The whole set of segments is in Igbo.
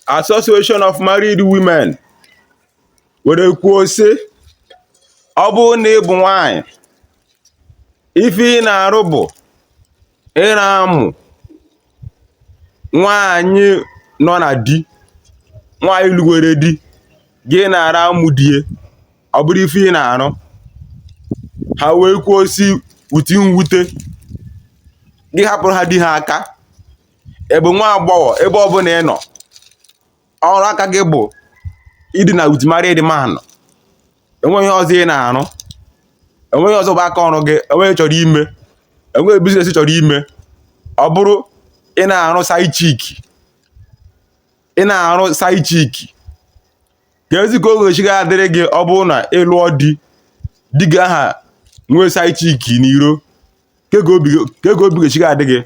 Association of Married Women were kwuo sị ọ bụrụ na ị bụ nwanyị ife ị na-arụ bụ ịra amụ nwanyị nọ na di nwanyị lụgwere di gị na-ara amụ di e ọ bụrụ ife ị na-arụ ha wee kwuo sị uti mwute gị hapụrụ ha di ha aka ị bụ nwa agbọghọ ebe ọbụla ị nọ ọrụ aka gị bụ ịdina with married man enweghị ọzọ ị na-arụ enweghị ọzọ bụ aka ọrụ gị enweghị chọrọ ime enweghị business ị chọrọ ime ọ bụrụ ị na-arụ side chick ị na-arụ side chick keezi ka ọ ga-esi ga-adịrị gị ọ bụrụ na ị lụọ di di gị aha nwee side chick n'iro kee ka obi ga-esi ga-adị gị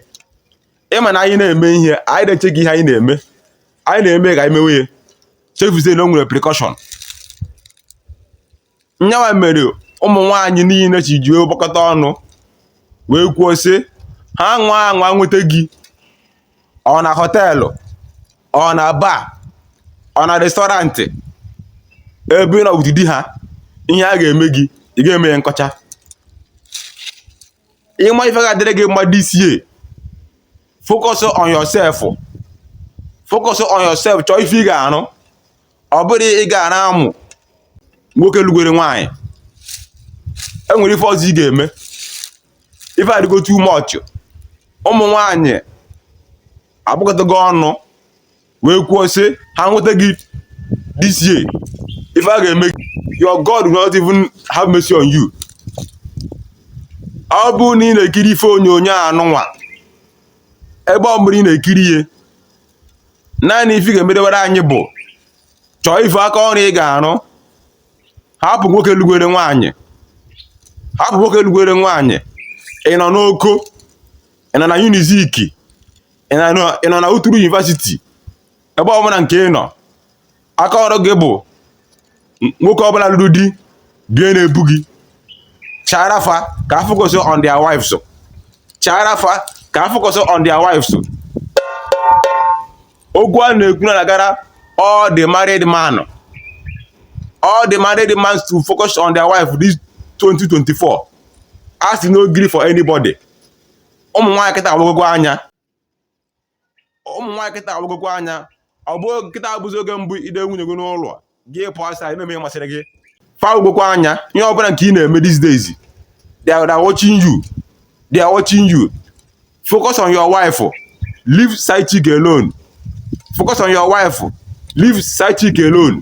ị ma na anyị na-eme ihe anyị na-echeghị ihe anyị na-eme anyị na-eme ka anyị mewe ya chefuzie na o nwere repercussion nyawa mere ụmụ nwaanyị niile ji ji gbakọta ọnụ wee kwuo sị ha nwa anwa nweta gị ọ na họteelụ ọ na bar ọ na restaurant ebe ị nọ with di ha ihe a ga-eme gị ị ga-eme ya nkọcha ị ma ife ga-adịrị gị mma this year focus on yourself focus on yourself chọọ ife ị ga-arụ ọ bụrụ ị ga-ara amụ nwoke lụgwere nwaanyị enwere ife ọzọ ị ga-eme ife adịgo too much ụmụ nwaanyị agbakọtago ọnụ wee kwuo sị ha nweta gị this year ife a ga-eme your God will not even have mercy on you ọ bụrụ na ị na-ekiri ife onyonyo anụnwa ebe ọbụla ị na-ekiri ihe naanị ife ị ga-emedewere anyị bụ chọọ ife aka ọrụ ị ga-arụ hapụ nwoke lụgwere nwaanyị hapụ nwoke lụgwere nwaanyị ị nọ n'Oko ị nọ na Unizik ị nọ na Uturu University ebe ọbụla nke ị nọ aka ọrụ gị bụ nwoke ọbụla lụrụ di bie na-ebu gị chara fa ka ha focus on their wives chara fa ka ha focus on their wives okwu a na-ekwu na-agara all the married man all the married man to focus on their wife this 2024 a sị no gree for anybody ụmụ nwaanyị kịta agbagogo anya ụmụ nwaanyị kịta awagokwa anya ọ bụ kịta abụzi oge mbụ i debe nwunye gị n'ụlọ gị pụọ outside na-eme ihe masịrị gị fa awagokwa anya ihe ọbụla nke ị na-eme these days they are watching you they are watching you focus on your wife leave side chick alone focus on your wife leave side chick alone